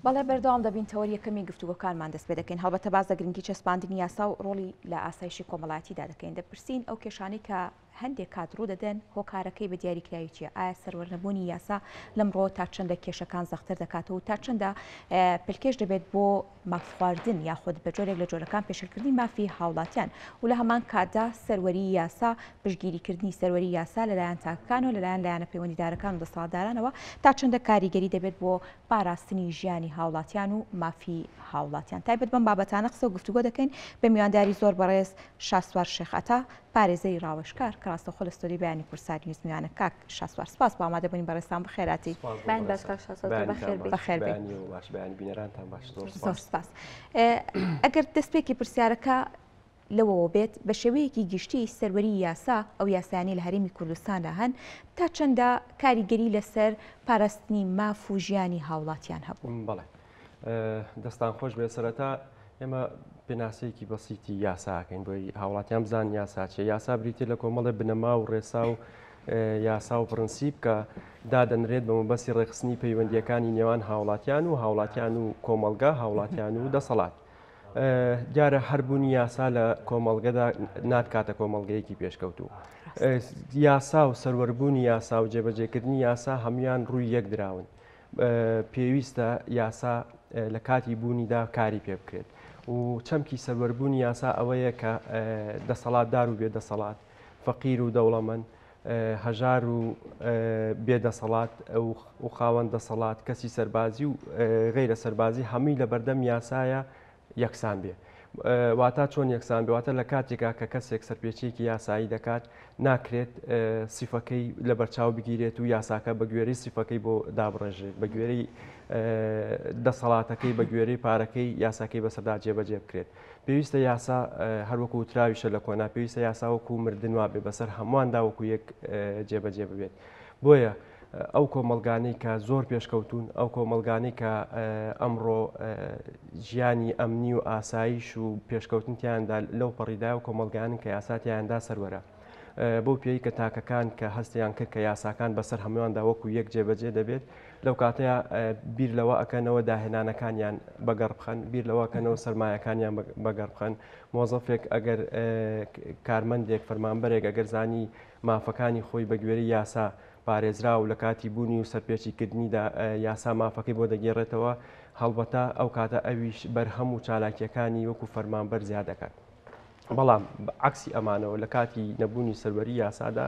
بەڵێ بەردەوام دەبین تەوەری یەکەمی گفتوگۆکانمان دەست پێ دەکەین هەڵبەتە باز لە گرنگی چەسپاندنی یاسا و ڕۆڵی لە ئاسایشی کۆمەڵایەتیدا دەکەین دەپرسین ئەو کێشانەی کە هەندێک کات ڕوو دەدەن هۆکارەکەی بە دیاریکراوی چیە ئایا سەروەرنەبوونی یاسا لەم ڕۆ تا چەندە کێشەکان زەختر دەکاتەوە تا چەندە پلکێش دەبێت بۆ مافخواردن یاخود بە جۆرێک لە جۆرەکان پێشێلکردنی مافی هاوڵاتیان و لە هەمان کاتدا سەروەری یاسا پشگیریکردنی سەروەری یاسا لەلایەن تاکەکان و لەلایەن لایەنە پەیوەندیدارەکان و دەسەڵاتدارانەوە تا چەندە کاریگەری دەبێت بۆ پاراستنی ژیانی هاوڵاتیان و مافی هاوڵاتیان تایبەت بەم بابەتانە قسە و گفتوگۆ دەکەین بە میوانداری زۆر بەڕێز شاسوار شێخ عەتا پارێزەری ڕاوێژکار کە ڕاستەوخۆ لە ستۆدیۆی بەیانی کوردسات نیوز میوانە کاک شاسوار سپاس بۆ ئامادە بوونی بەڕێزتان بەخێراتی سپاس بۆ بەڕێزتان بەیانی باش بێت بەخێر بێیت بەخێر بێیت بەیانی و باش بەیانی بینەرانتان باش زۆر سپاس زۆر سپاس ئەگەر دەست پێکی پرسیارەکە لەوەوە بێت بە شێوەیەکی گشتی سەروەری یاسا ئەو یاسایانەی لە هەرێمی کوردستاندا هەن تا چەندە کاریگەری لەسەر پاراستنی ماف و ژیانی هاوڵاتیان هەبوو؟ بەڵێ. دەستان خۆش بێت سەرەتا ئێمە پێناسەیەکی بەسیتی یاساکەین بۆی هاوڵاتیان بزان یاساچێ یاسا بریتێ لە کۆمەڵێ بنەما و ڕێسا و یاسا و پرنسیب کە دادەنرێت بە مەبەستی ڕێخستنی پەیوەندیەکانی نێوان هاوڵاتیان و هاوڵاتیان و کۆمەلگا هاوڵاتیان و دەسەڵات. دیارە هەربوونی یاسا لە کۆمەڵگەدا ناتکاتە کۆمەڵگەیەکی پێشکەوتوو. یاسا و سەروەربوونی یاسا و جێبەجێکردنی یاسا هەموان ڕووی یەک دراون. پێویستە یاسا لە کاتی بوونیدا کاری پێ بکرێت و چەمکی سەروەربوونی یاسا ئەوەیە کە دەسەڵاتدار و بێدەسەڵات فەقیر و دەوڵەمەند هەژار و بێدەسەڵات و خاوەن دەسەڵات کەسی سەربازی و غیرە سەربازی هەمووی لە بەردەم یاسایە یەکسان بێ واتا چۆن یەکسان بێواتە لە کاتێکا کە کەسێک سەرپێچیەکی یاسایی دەکات ناکرێت سیفەکەی لە بەرچاو بگیرێت و یاساکە بە گوێری سیفەکەی بۆ دابڕێژێت بە گوێری دەسەڵاتەکەی بە گوێری پارەکەی یاساکەی بەسەدا جێبەجێ بکرێت پێویستە یاسا هەروەکو وتراویشە لە کۆنا پێویستە یاساوەکو مردنوا بێ بەسەر هەمووان داوەکو یەک جێبەجێ ببێت بۆیە ئەو کۆمەڵگانەی کە زۆر پێشکەوتوون، ئەو کۆمەڵگانەی کە ئەمڕۆ ژیانی ئەمنی و ئاسایش و پێشکەوتن تیاندا لەو پەڕیدا و کۆمەلگانن کە یاساتیاندا سەروەرە. بەو پێی کە تاکەکان کە هەستیان کرد کە یاساکان بەسەر هەموواندا وەکو یەک جێبەجێ دەبێت لەو کاتەیە بیر لەوە ئەکەنەوە داهێنانەکانیان بەگەڕ بخەن بیر لەوەکەنەوە سرمایەکانیان بەگەڕ بخەن مۆزەفێک ئەگەر کارمەندێک فەرمانبەرێک ئەگەر زانی مافەکانی خۆی بە گوێرەی یاسا پارێزراوە و لە کاتی بوونی و سەرپێچیکردنیدا یاسا مافەکەی بۆ دەگێڕێتەوە، هەڵبەتە ئەو کاتە ئەویش بەرهەم و چالاکییەکانی وەکو فەرمانبەر زیاد دەکات. بەڵام بە عەکسی ئەمانەوە لە کاتی نەبوونی سەروەری یاسادا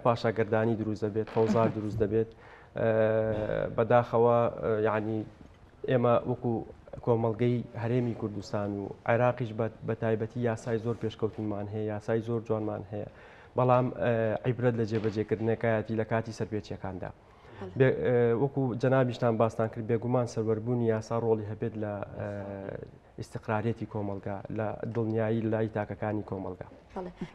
پاشاگەردانی دروست دەبێت، فەوزا دروست دەبێت. بەداخەوە یانی ئێمە وەکو کۆمەڵگەی هەرێمی کوردستان و عێراقیش بە تایبەتی یاسای زۆر پێشکەوتونمان هەیە، یاسای زۆر جوانمان هەیە. بەڵام عیبرەت لە جێبەجێکردنەکایەتی لە کاتی سەرپێچیەکاندا. وەکو جەنابیشتان باستان کرد بێگومان سەروەربوونی یاسا ڕۆڵی هەبێت لە ئیسقرارەتی کۆمەلگا لە دڵنیایی لای تاکەکانی کۆمەلگا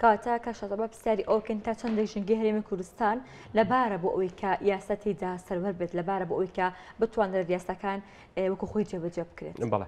کاتە کە شەزە بە پرسیاری ئەوکەن تا چەند دەژنگی هەرێمی کوردستان لەبارە بۆ ئەوی کە یاسا تێدا سەروەر بێت لەبارە بۆ ئەوی کە بتوانرێت یاساکان وەکو خۆی جێبەجێ بکرێت بڵێ.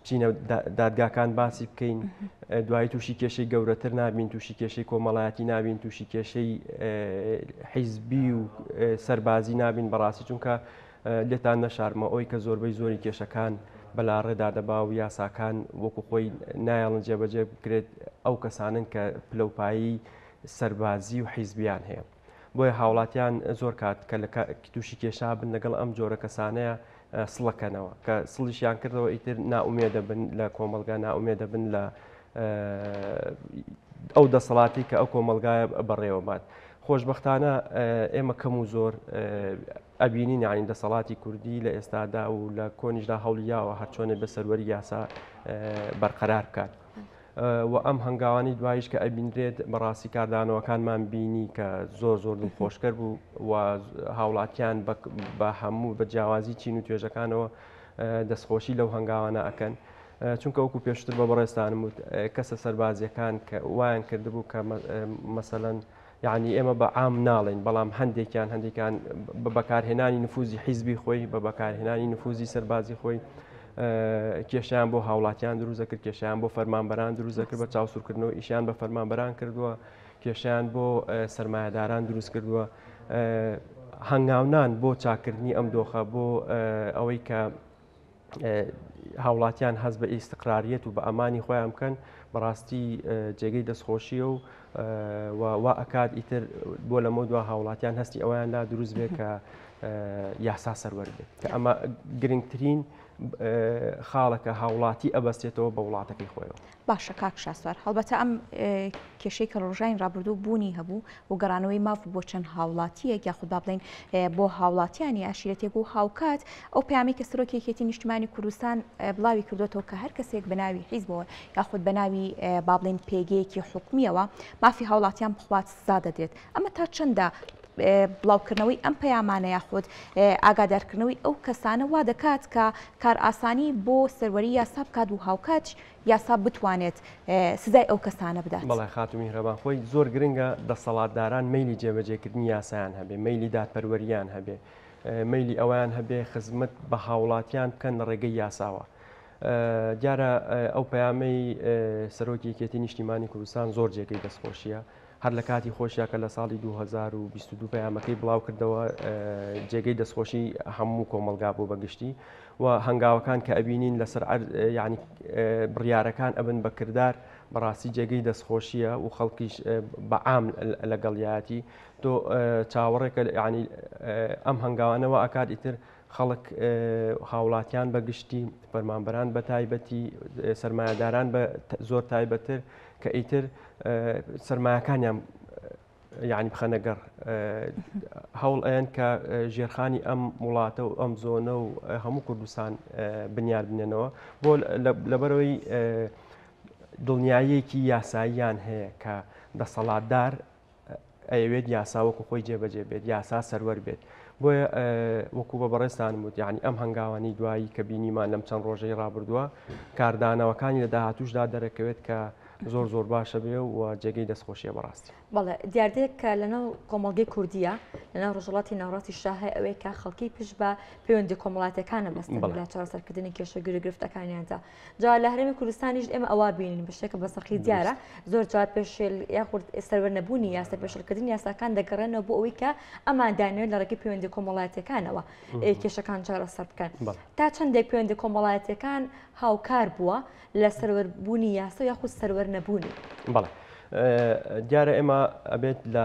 بچینە دادگاکان باسی بکەین دوایی تووشی کێشەی گەورەتر نابین تووشی کێشەی کۆمەڵایەتی نابین تووشی کێشەی حیزبی و سەربازی نابین بەڕاستی چونکە لێتان نەشارمە ئەوی کە زۆربەی زۆری کێشەکان بەلا ڕێدا دەبا و یاساکان وەکو خۆی نایڵن جێبەجێ بکرێت ئەو کەسانن کە پلەپایی سەربازی و حیزبیان هەیە بۆیە هاوڵاتیان زۆر کات کە لە تووشی کێشا بن لەگەڵ ئەم جۆرە کەسانەیە سڵەکەنەوە کە سڵیشیان کردەوە ئیتر ناومێ دەبن لە کۆمەلگا ناومێ دەبن لە ئەو دەسەڵاتی کە ئەو کۆمەلگایە بەڕێوە بات. خۆشببختانە ئێمە کەم و زۆر ئەبینی نانی دەسەڵاتی کوردی لە ئێستادا و لە کۆنیشدا هەڵیاوە هەرچۆنێ بە سەروەری یاسا بەرقەرار بکات. وە ئەم هەنگاوانەی دواییش کە ئەبینرێت بەڕاستی کاردانەوەکانمان بینی کە زۆر زۆر دڵخۆشکەر بوو و هاوڵاتیان بە هەموو بە جیاوازی چین و توێژەکانەوە دەستخۆشی لەو هەنگاوانە ئەکەن. چونکە وەکو پێشتر بە بەڕێستانم وت کەسە سەربازیەکان کە وایان کردبوو کە مەسەەن یەعنی ئێمە بە عام ناڵێین، بەڵام هەندێکیان هەندێکان بە بەکارهێنانی نفوزی حیزبی خۆی، بە بەکارهێنانی نفوزی سەربازی خۆی کێشیان بۆ هاوڵاتیان دروست دەکرد، کێشیان بۆ فەرمانبەران دروست دەکرد بە چاوسورکردنەوە ئیشیان بە فەرمانبەران کردووە، کێشیان بۆ سرمایهداران دروست کردووە. هەنگاونان بۆ چاککردنی ئەم دۆخە بۆ ئەوەی کە هاوڵاتیان هەست بە ئیستقراریەت و بە ئەمانی خۆیان بکەن بەڕاستی جێگەی دەستخۆشیە و وا ئەکات ئیتر بۆ لەمە دو هاوڵاتیان هەستی ئەویان لا دروست بێت کە یاسا سەروەر بێت کە ئەمە گرنگترین خاڵەکە هاوڵاتی ئەبەستێتەوە بە وڵاتەکەی خۆیەوە باشە کاک شاسوار هەڵبەتە ئەم کێشەی کە ڕۆژانی ڕابردوو بوونی هەبوو و گەڕانەوەی ماف بۆ چەند هاوڵاتیەک یاخود با بڵین بۆ هاوڵاتیانی عشیرەتێک و هاوکات ئەو پامی کە سەرۆکی یەکێتی نیشتمانی کوردستان بڵاوی کردوێتەوە کە هەر کەسێک بەناوی حیزبەوە یاخود بەناوی بابلین پێگەیەکی حکومیەوە مافی هاوڵاتیان بخوات سزا دەدرێت ئەمە تا چەندە بڵاوکردنەوەی ئەم پەیامانە یاخود ئاگادارکردنەوەی ئەو کەسانە وا دەکات کە کار ئاسانی بۆ سەروەری یاسا بکات و هاوکات یاسا بتوانێت سزای ئەو کەسانە بدات. بەڵێ خاتوو میهرەبان، خۆی زۆر گرنگە دەسەڵاتداران مەیلی جێبەجێکردنی یاسایان هەبێ، مەیلی دادپەروەرییان هەبێ، مەیلی ئەوەیان هەبێ خزمەت بە هاوڵاتیان بکەن لە ڕێگەی یاساوە. دیارە ئەو پەیامەی سەرۆکی یەکێتی نیشتیمانی کوردستان زۆر جێگەی دەستخۆشییە. هەر لە کاتی خۆشیا کە لە ساڵی دوو هەزار و بیست و دوو پەیامەکەی بڵاوکردەوە جێگەی دەستخۆشی هەموو کۆمەڵگا بوو بە گشتی و هەنگاوەکان کە ئەبینین لەسەر یعنی بڕیارەکان ئەبن بە کردار بەڕاستی جێگەی دەستخۆشیە و خەڵکیش بەعام لەگەڵیاتی تۆ چاوەڕێکە ینی ئەم هەنگاوانەوە ئاکات ئیتر خەڵک هاوڵاتیان بە گشتی فەرمانبەران بە تایبەتی سرمایهداران بە زۆر تایبەتر کە ئیتر سەرمایەکانیان یعنی بخەنە گەڕ هەوڵ ئەیەن کە ژێرخانی ئەم وڵاتە و ئەم زۆنە و هەموو کوردستان بنیاد بنێنەوە بۆ لەبەرەوەی دڵنیاییەکی یاساییان هەیە کە دەسەڵاتدار ئەیەوێت یاسا وەکو خۆی جێبەجێ بێت یاسا سەروەر بێت بۆیە وەکو بە بەڕێستان وت یعنی ئەم هەنگاوانی دوایی کە بینیمان لەم چەند ڕۆژەی ڕابردووە کاردانەوەکانی لە داهاتوشدا دەرەکەوێت کە زۆر زۆر باشە بێ و جێگەی دەستخۆشیە بەڕاستی بەڵێ دیاردەیەک کە لەناو کۆمەڵگەی کوردیە لەناو ڕژڵاتی ناوڕاستی شاهی ئەوەیە کە خەڵکی پشت بە پەیوەندی کۆمەڵاتەکانە بەستن لە چارەسەرکردنی کێشە گرێ گرفتەکانیاندا جا لە هەرێمی کوردستانیش ئێمە ئەوا بینین بشتێکە بە سەقی دیارە زۆر جا پێشێل یاخود سەروەر نەبوونی یاسا پێشلکردن یاساکان دەگەڕێنەوە بۆ ئەوەی کە ئەمان دانوێت لە ڕێکی پەیوەندی کۆمەڵاتەکانەوە کێشەکان چارەسەر بکەن تا چندێک پەیوەندی کۆمەڵایەتەکان هاوکار بووە لە سەروەربوونی یاسا یاخود سەروەر نەبوونی بەڵێ دیارە ئێمە ئەبێت لە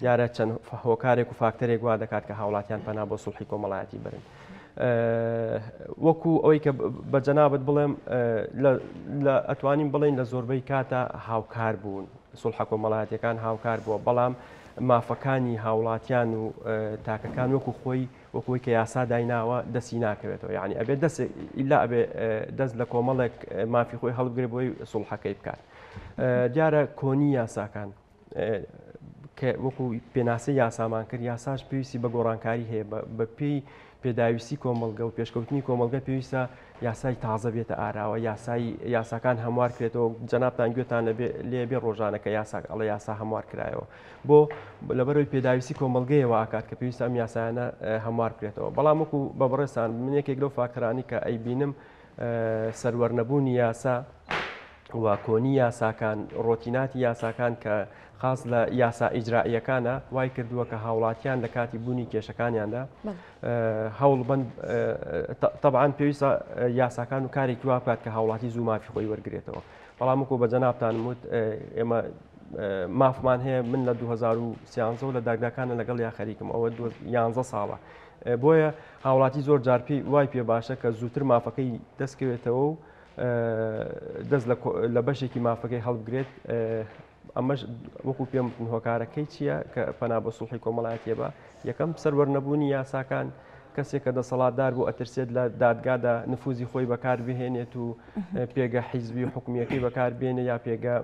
دیارە چەند هۆکارێک و فاکتەرێک وا دەکات کە هاوڵاتیان پەنا بۆ سوڵحی کۆمەڵایەتی برن. وەکو ئەوەی کە بە جەنابەت بڵێم ئەتوانین بڵین لە زۆربەی کاتە هاوکار بوون سوڵحە کۆمەڵاتەکان هاوکار بووە بەڵام مافەکانی هاوڵاتیان و تاکەکان وەکو خۆی وەکوی کە یاسا دایناوە دەسی ناکەوێتەوە یعنی ئەبێ دەست ئیلا ئەبێ دەست لە کۆمەڵێک مافی خۆی هەڵبگرێ بۆی سوڵحەکەی بکات دیارە کۆنی یاساکان کە وەکو پێناسەی یاسامان کرد یاساش پێویستی بە گۆڕانکاری هەیە بە پێی پێداویستی کۆمەلگە و پێشکەوتنی کۆمەلگە پێویستە یاسای تازە بێتە ئاراوە یاسایی یاساکان هەموار کرێتەوە جەنابان گوێتان لێبێ ڕۆژانە کە یاساک ئەڵە یاسا هەموار کرایەوە بۆ لەبەرەوەی پێداویستی کۆمەلگەیەوە ئاکات کە پێویستە ئەم یاسایانە هەموار کرێتەوە بەڵام وەکو بە بڕێستان من یەکێک لەو فاکتەرانی کە ئەیبینم سەروەرنەبوونی یاسا و کۆنی یاساکان، ڕۆتیناتی یاساکان کە خاس لە یاسا ئیجرائییەکانە، وای کردووە کە هاوڵاتیان لە کاتی بوونی کێشەکانیاندا هەوڵ بن تەبعاان پێویستە یاساکان و کارێکی وا بکات کە هاوڵاتی زوو مافی خۆی وەرگێتەوە بەڵام وکو بە جەنابان وت ئێمە مافمان هەیە من لە 2013 لە داگداکانە لەگەڵ یا خەریکم ئەوە 11 ساڵە بۆیە هاوڵاتی زۆر جارپی وای پێ باشە کە زووتر مافەکەی دەستکەوێتەوە و دەست لە بەشێکی مافەکەی هەڵبگرێت ئەمەش وەکو پێم بکن هۆکارەکەی چییە کە پەنا بە سوڵحی کۆمەڵایەتە بە یەکەم سەروەرنەبوونی یاساکان کەسێک کە دەسەڵاتدار بۆ ئەترسێت لە دادگادا نفوزی خۆی بەکار بهێنێت و پێگە حیزبی و حکومیەکەی بەکار بێنێ یا پێگە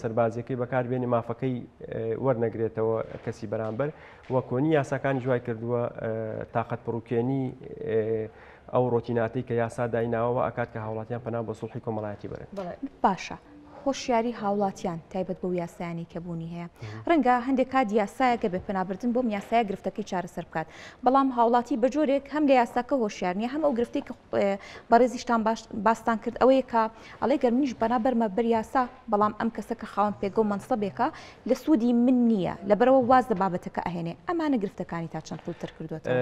سەربازیەکەی بەکار بێنێ مافەکەی وەرنەگرێتەوە کەسی بەرامبەر وەکۆنی یاساکان جوای کردووە تااقەت پڕوکێنی ئەو ڕۆتیناتەی کە یاسا دایناوە وا ئەکات کە هاوڵاتیان پەنا بۆ سوڵحی کۆمەڵایەتی بەرن. باشە هۆشیاری هاوڵاتیان تایبەت بەو یاسایانەی کە بوونی هەیە ڕەنگە هەندێک کات یاسایەکە بێ پەنابردن بۆم یاسایە گرفتەکەی چارەسەر بکات بەڵام هاوڵاتی بە جۆرێک هەم لە یاساکە هۆشیار نیە هەم ئەو گرفتی کە بەڕێزیشتان باش باستان کرد ئەوەیە کە ئەڵێ گەر منیش بەنا بەرمە بەر یاسا بەڵام ئەم کەسە کە خاوەن پێگە و مەنسەبێکە لە سوودی من نییە لەبەرئەوە واز لە بابەتەکە ئەهێنێ ئەمانە گرفتەکانی تا چەند قووڵتر کردووەتەوە.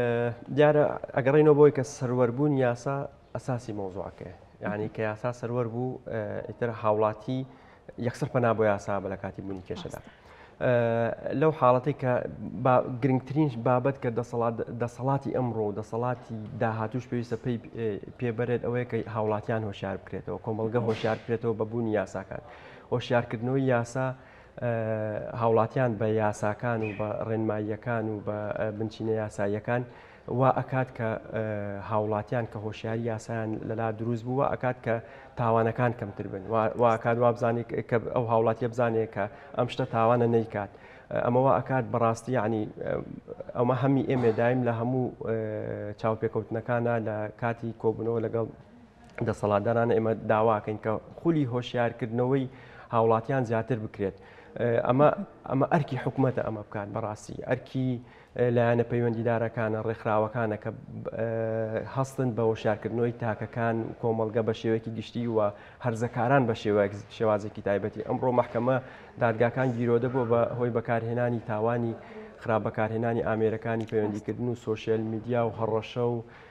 دیارە ئەگەڕێینەوە بۆی کە سەروەربوونی یاسا ئەساسی مەوزوعەکەیە یانی کە یاسا سەروەر بوو ئیتر هاوڵاتی یەکسەر پەنا بۆ یاسا بە لە کاتی بوونی کێشەدا. لەو حاڵەتی کە گرنگترین بابەت کە دەسەڵات دەسەڵاتی ئەمڕۆ و دەسەڵاتی داهاتوش پێویستە پێی پێبرێت ئەوەیە کە هاوڵاتیان هۆشار بکرێتەوە کۆمەلگە هۆشار بکرێتەوە بە بوونی یاساکان هۆشیارکردنەوەی یاسا هاوڵاتیان بە یاساکان و بە ڕێنماییەکان و بە بنچینە یاساییەکان وا ئەکات کە هاوڵاتیان کە هۆشیاری یاسایان لەلا دروست بووە ئەکات کە تاوانەکان کەمتر بن واکات وا بزانێت کە ئەو هاوڵاتیە بزانێت کە ئەم شتە تاوانە نەیکات. ئەمەوە ئەکات بەڕاستی عنی ئەومە هەمی ئێمێدایم لە هەموو چاوپێکەوتنەکانە لە کاتی کۆبنەوە لەگەڵ دەسەڵاتداران ئێمە داواکەین کە خولی هۆشیارکردنەوەی هاوڵاتیان زیاتر بکرێت ئەمە ئەمە ئەرکی حکوومەتە ئەمە بکات بەڕاستی ئەرکی لایەنە پەیوەندیدارەکانە ڕێکخراوەکانە کە هەستن بە وەشارکردنەوەی تاکەکان و کۆمەلگە بە شێوەیەکی گشتی و هەرزەکاران بە شێوەیەک شێوازێکی تایبەتی ئەمڕۆ محکەمە دادگاکان گیرۆدە بۆ بە هۆی بەکارهێنانی تاوانی خراپ بەکارهێنانی ئامێرەکانی پەیوەندیکردن و سوۆشیل میدیا و هەڕەشە و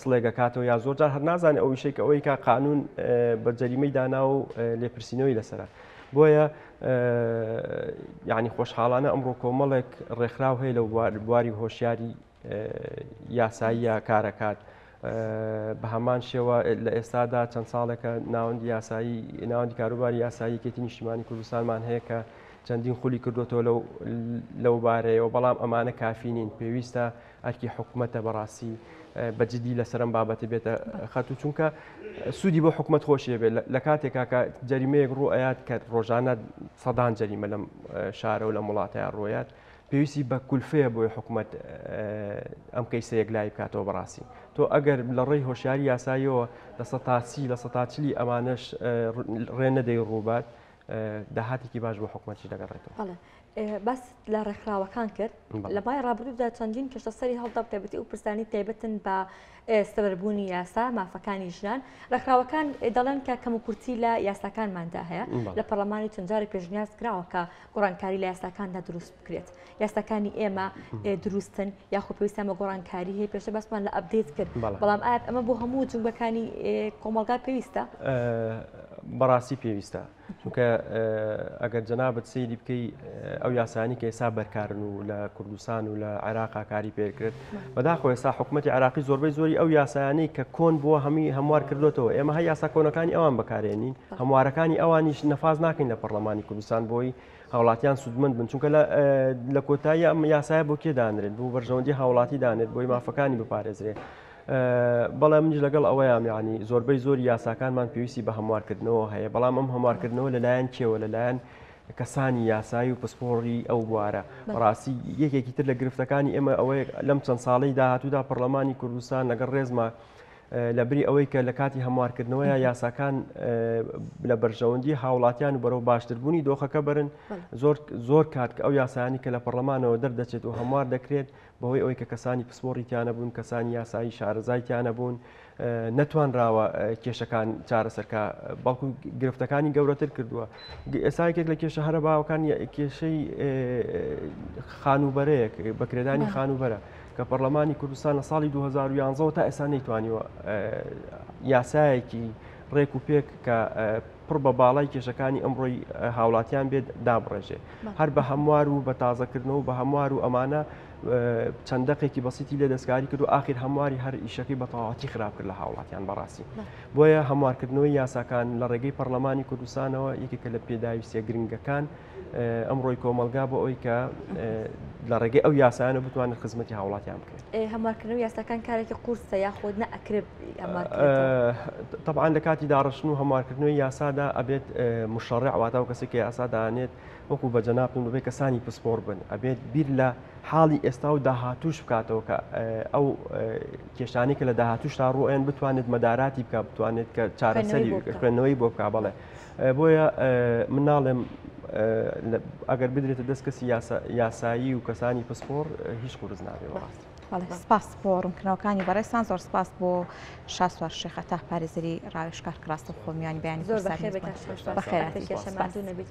سڵێک ئەکاتەوە یا زۆر جار هەر نازانێ ئەو ویشەی کە ئەوەی کا قانون بە جەریمەی دانا و لێپرسینەوەی لەسرە بۆیە یعنی خۆشحاڵانە ئەمڕۆ کۆمەڵێک ڕێکخراو هەیە لە بواری هۆشیاری یاساییە کارەکات. بە هەمان شێوە لە ئێستادا چەند ساڵێکە ناوەندی یاسایی ناوەندی کاروباری یاسایی کێتی نیشتیمانی کوردستانمان هەیە کە چەندین خولی کردوەوە لەو لەو بارەیەوە بەڵام ئەمانە کافینین پێویستە ئەرکی حکومەتە بەڕاستی بە جدی لەسەر ئەم بابەتە بێتە خەت و چونکە سوودی بۆ حکومت خۆشیێ بێت لە کاتێکا کە جەریمەیەک ڕوو ئەات کە ڕۆژانە سەدان جەریمە لەم شارە و لە وڵاتەیە ڕۆیات پێویستی بە کولفەیە بۆی حکومت ئەم کەیسە یەک لای بکاتەوە بەڕاستی تۆ ئەگەر لە ڕێی هۆشیاری یاساییەوە لە سە تاچی لە سە تاچلی ئەمانش ڕێ نەدەی ڕووبات داهاتێکی باش بۆ حکومەتی دەگەڕێتەوە. باست لە ڕێکخراوەکان کرد لە بای ڕابردوودا چەندین کەشە سەری هەڵدا بتەبێتی و پرسانی تایبەتن بە سەربوونی یاسا مافەکانی ژنان ڕێکخراوەکان دەڵێن کە کەم و کورتی لە یاساکانماندا هەیە لە پەرلەمانی چەندجاری پێشنیاز کراوەکە گۆڕانکاری لە یاساکاندا دروست بکرێت یاساکانی ئێمە دروستن یاخۆ پێویستان بە گۆڕانکاری هەیە پێشە باسمان لە ئەبدەیت کرد بەڵام ئاپ ئەمە بۆ هەموو جنگەکانی کۆمەلگا پێویستە بەڕاستی پێویستە چونکە ئەگەر جەنابەت سەیری بکەی ئەو یاسانی کە ئێستا بەرکارن و لە کوردستان و لە عێراقا کاری پێکرێت بەداخۆ ئێستا حکوومەتتی عراقی زۆربەی زۆری ئەو یاسایانی کە کۆن بووە هەمی هەموار کردوێتەوە ئێمە هە یاسا کۆنەکانی ئەوان بەکارێنین هەموارەکانی ئەوانیش نەفاز ناکەین لە پەرلەمانی کوردستان بۆی هاوڵاتیان سوودمن بن چونکە لە کۆتایی ئەم یاسایە بۆ کێدانرێت بۆ بەرژەوەندی هاوڵاتی دانێت بۆی مافەکانی بپارێزرێت بەڵێ منیش لەگەڵ ئەوەیام یانی زۆربەی زۆری یاساکانمان پێویستی بە هەموارکردنەوە هەیە بەڵام ئەم هەموارکردنەوە لەلایەن کێوە لەلایەن کەسانی یاسایی و پسپۆڕی ئەو بوارە ڕاستی یەکێکی تر لە گرفتەکانی ئێمە ئەوەیە لەم چەند ساڵی داهاتوودا پەرلەمانی کوردستان لەگەڵ ڕێزما لە بری ئەوەی کە لە کاتی هەموارکردنەوە یا یاساکان لە بەرژەوەندی هاوڵاتیان و بەرەو باشتربوونی دۆخەکە برن زۆر زۆر کات کە ئەو یاسایانی کە لە پەرلەمانەوە دەردەچێت و هەموار دەکرێت بەهۆی ئەوەی کە کەسانی پسپۆڕی تیا نەبوون، کەسانی یاسایی شارەزای تیا نەبوون، نەتوانراوە کێشەکان چارەسەر کا، بەڵکو گرفتەکانی گەورەتر کردووە. ئێستا یەکێک لە کێشە هەرە باوەکان کێشەی خانووبەرەیەک بەکرێدانی خانووبەرە کە پەرلەمانی کوردستان لە ساڵی 2011ەوە تا ئێستا نەیتوانیوە یاسایەکی ڕێک و پێک کە پڕ بە باڵای کێشەکانی ئەمڕۆی هاوڵاتیان بێت دابڕێژێ هەر بە هەموار و بە تازەکردنەوە بە هەموار و ئەمانە چەند دەقێکی بەسیتی لێ دەستکاری کرد و آخر هەمواری هەر ئیشەکەی بە تەواتی خراپ کرد لە هاوڵاتیان بەڕاستی بۆیە هەموارکردنەوەی یاساکان لە ڕێگەی پەرلەمانی کوردستانەوە یەکێکە لە پێداویستە گرنگەکان ئەمڕۆی کۆمەلگا بۆ ئەوی کە لە ڕێگەی ئەو یاسایانە بتوانن خزمەتی هاوڵاتیان بکەن هەمارکردن و یاساکان کارێکی قورسە یاخود نەکرێت طبعاان لە کاتی داڕشتن و هەمارکردنەوەی یاسادا ئەبێت مشڕع واتا و کەسێکی یاسادانێت وەکو بە جەناپن ببێ کەسانی پسپۆر بن ئەبێت بیر لە حاڵی ئێستا و داهاتوش بکاتەوە کە ئەو کێشانی کە لە داهاتوش تا ڕۆیان بتوانێت مەداراتی بکە بتوانێت کە چارەسەری خوێندنەوەی بۆ بک بەڵێ بۆیە من ناڵێم ئەگەر بدرێتە دەست کەسی یاسایی و کەسانی پسپۆر هیچ قورس نابێ بەڕاست سپاس بۆ ڕوونکردنەوەکانی بەڕێستان زۆر سپاس بۆ شاسوار شێخە تا پارێزری ڕاوێشکار کڕاستە خۆمیانی بەیانی بەخێرێکی شەماندوو نەبیت.